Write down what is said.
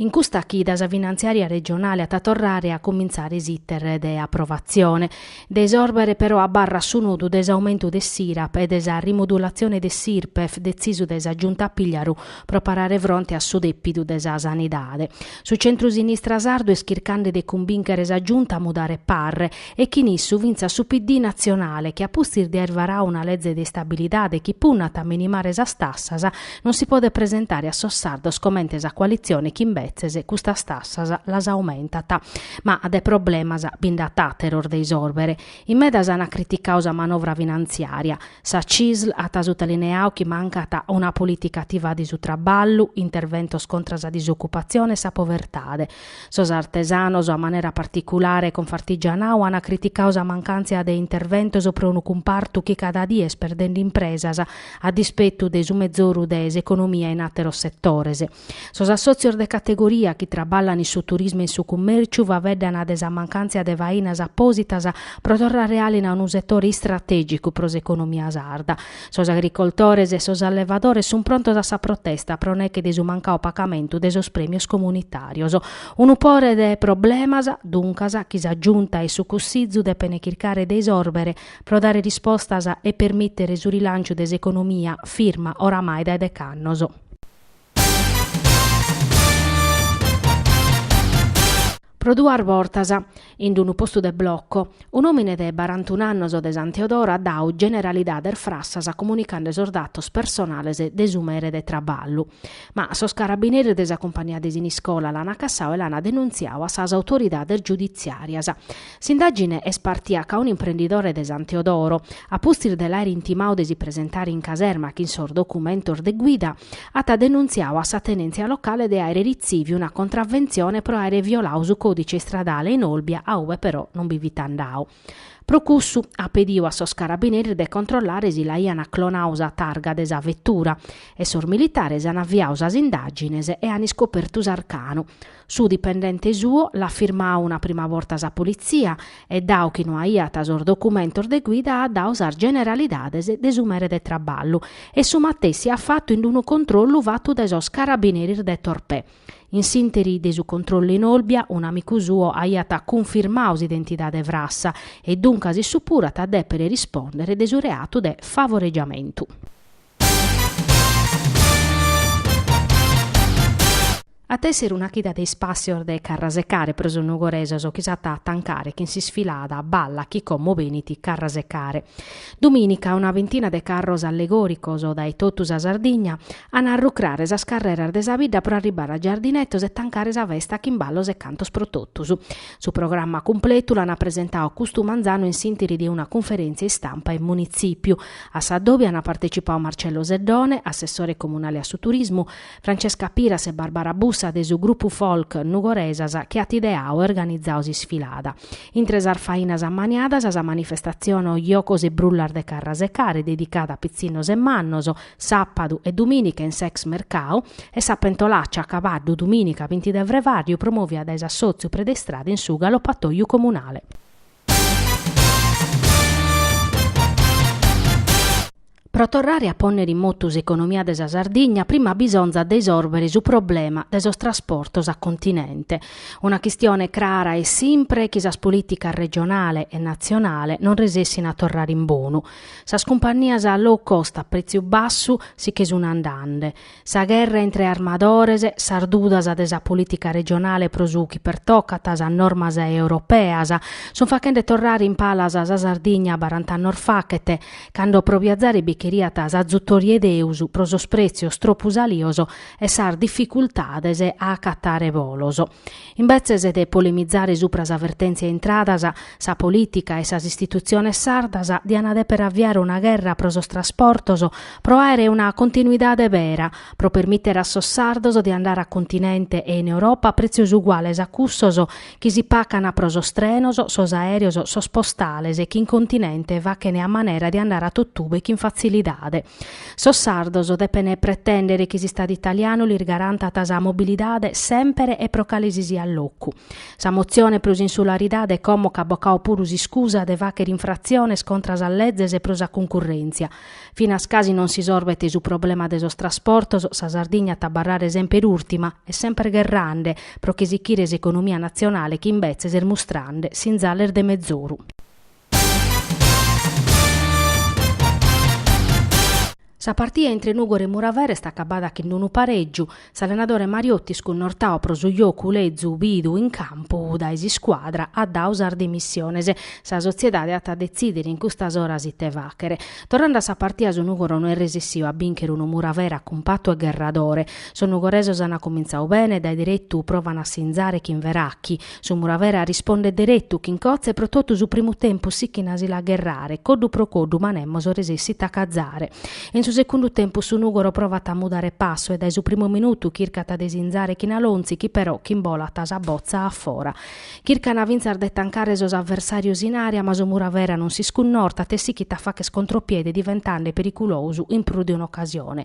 In custa chida sa finantziària regionale at a torrare a cumintzare s'iter de aprovatzione. De isòrbere però abarrat su nodu de s'aumentu de s'IRAP e de sa rimudulatzione de s'IRPEF detzisu dae sa Giunta Pigliaru pro parare fronte a su dèpidu de sa sanidade. Su centru-sinistra sardu est chircande de cumbìnchere sa Giunta a mudare parre e chin issu fintzas su PD natzionale chi a pustis de aer varau una leze de istabilidade chi punnat a minimare sas tassas, non si podet presentare a sos sardos comente sa coalitzione chi imbetzes custas tassas las aumentat. Ma de problemas bi nd'at àteros de isòrbere. In medas ant criticau sa manovra finantziària. Sa CISL at sutalineau chi mancat una polìtica ativa de su traballu, interventos contra sa disocupatzione e sa povertade, Sos artesanos, a manera particulare Confartigianau, ant criticau sa mancàntzia de interventos pro unu cumpartu chi cada die est perdende impresas, a dispetu de su mezoru de s'economia in àteros setores. Sos assòtzios de categoria chi traballan in su turismu e in su cummèrciu faveddant de sa mancàntzia de fainas apòsitas pro torrare àlinu a unu setore istratègicu pro s'economia sarda, Sos agricoltores e sos allevadores sun prontos a sa protesta pro neche de su mancau pagamentu de sos premios comunitarios. Unu pore de problemas, duncas, chi sa Giunta e su Cussizu depen chircare de isòrbere pro dare rispostas e permìtere su rilanciu de s'economia firma oramai dae dech'annos. Pro duas bortas, in d-unu postu de bloco, un'òmine de barantun'annos de San Teodoro at dau generalidades frassas comunicande sos datos personales de su mere de traballu. Ma sos carabineres de sa cumpagnia de Siniscola l'an acassau e l'an denuntziau a sas autoridades giuditziàrias. S'indàgine est partìa ca un'imprendidore de San Teodoro, a pustis de l'àere intimau de si presentare in caserma chin sos documentos de guida, at denuntziau a sa tenèntzia locale de àere ritzìviu una contraventzione pro àere violau su còdice istradale in Olbia a ue però non bi fit andau. Pro cussu, at pediu a sos carabineres de controllare si l'aiant clonau sa targa de sa vetura e sos militares an aviau sas indàgines e an iscopertu s'arcanu, Su dipendente suo l'at firmau una prima borta sa politzia e dau chi no aiat sos documentos de guida at dau sas generalidades de su mere de traballu e su matessi at fatu in d-unu controllu fatu dae sos carabineres de Torpè. In s'ìnteri de su controllu in Olbia un'amicu suo aiat cunfirmau s'identidade frassa e duncas issu puru at a dèpere rispòndere de su reatu de favoregiamentu. At èssere una chida de ispàssios de Carrasecare pro sos nugoresos chi s'at a tancare chin s'isfilada balla chi como benit Carrasecare. Dumìnica una bintina de carros allegòricos dae totu sa Sardigna an a arrucrare sas carreras de sa bidda pro arribare a Giardinetos e tancare sa festa chin ballos e cantos pro totus. Su programma cumpletu l'ana presentau custu manzanu in s'interi de una cunferentzia istampa in munitzipiu, a sa dobi ana partecipau Marcello Seddone, assessore comunale a su turismu, Francesca Piras e Barbara Bussa de su gruppu folk Nugoresas chi at ideau e organizau s'isfilada. Intre sas fainas ammaniadas sa manifestatzione Jocos e Brullas de Carrasecare dedicada a pitzinnos e mannos, Sàpadu e dumìnica in s'ex mercau e sa pentolàcia a cabaddu dumìnica binti de frevàrriu promòvia dae s'assòtziu Predistrada in su Galopatòiu Comunale. Pro torrare a pònnere in motu s'economia de sa Sardigna prima bisonzat de isòrbere su problema de sos trasportos a continente. Una chistione crara e simpre chi sas polìticas regionale e natzionale non resessint a torrare in bonu. Sas cumpannias low cost a prètziu bassu si che sun andande. Sa gherra intre armadores, sas dudas de sa polìtica regionale pro su chi pertocat sas normas europeas, sun fachende torrare in palas sa Sardigna barant'annos fachet, cando pro biazare bi cheriat s'azutori 'e Deus pro sos prètzios tropu salios e sas dificultades a acatare bolos. Imbetzes de polemizare supra sa vertèntzia intradas, sa polìtica e sas istitutziones sardas diant dèpere aviare una gherra pro sos trasportos pro àere una continuidade bera, pro permìtere a sos sardos de andare a continente e in Europa a prètzios uguales a cussos chi si pacant pro sos trenos, sos aèreos, sos postales chi in continente fachene a manera de andare a totube chin fatzilidade. Sos sardos depene pretèndere chi s'Istadu italianu lis garantat sa mobilidade sèmpere e pro cale si siat locu. Sa motzione pro s'insularidade como ch'at bocau puru s'iscusa de fàchere infratziones contra sas lezes pro sa cuncurrèntzia. Finas a chi non s'isorbet su problema de sos trasportos, sa Sardigna at a abarrare semper ùrtima e semper gherrande pro chi sichire s'economia natzionale chi imbetzes est mustrande sinzales de mezoru. Sa partia intre Nùgoro e Muravera est acabada chin unu parègiu, s'allenadore Mariotti scunnortau pro su jocu lezu bidu in campu dae s'iscuadra at dau sas dimissiones. Sa sotziedade at a detzìdere in custas oras ite fàchere. Torrande a sa partia su Nùgoro no est resessiu a bìnchere unu Muravera cumpatu e gherradore. Sos nugoresos ant cumintzau bene e dae deretu provan a sinzare chin Verachi, Su Muravera arrispondet deretu chi in Cotze pro totu su primu tempus sichin a si la gherrare, coddu pro coddu ma nemos resessit a cazare. In su segundu tempus su Nùgoro provat a mudare passu e dae su primu minutu chircat de sinzare chin Alonzi chi però imbolat sa botza a fora. Chircana fintzas de tancare sos aversàrios in àrea ma su Muravera non s'iscunnortat e sichit a facher contropiede diventande periculosu in prus de un'ocasione.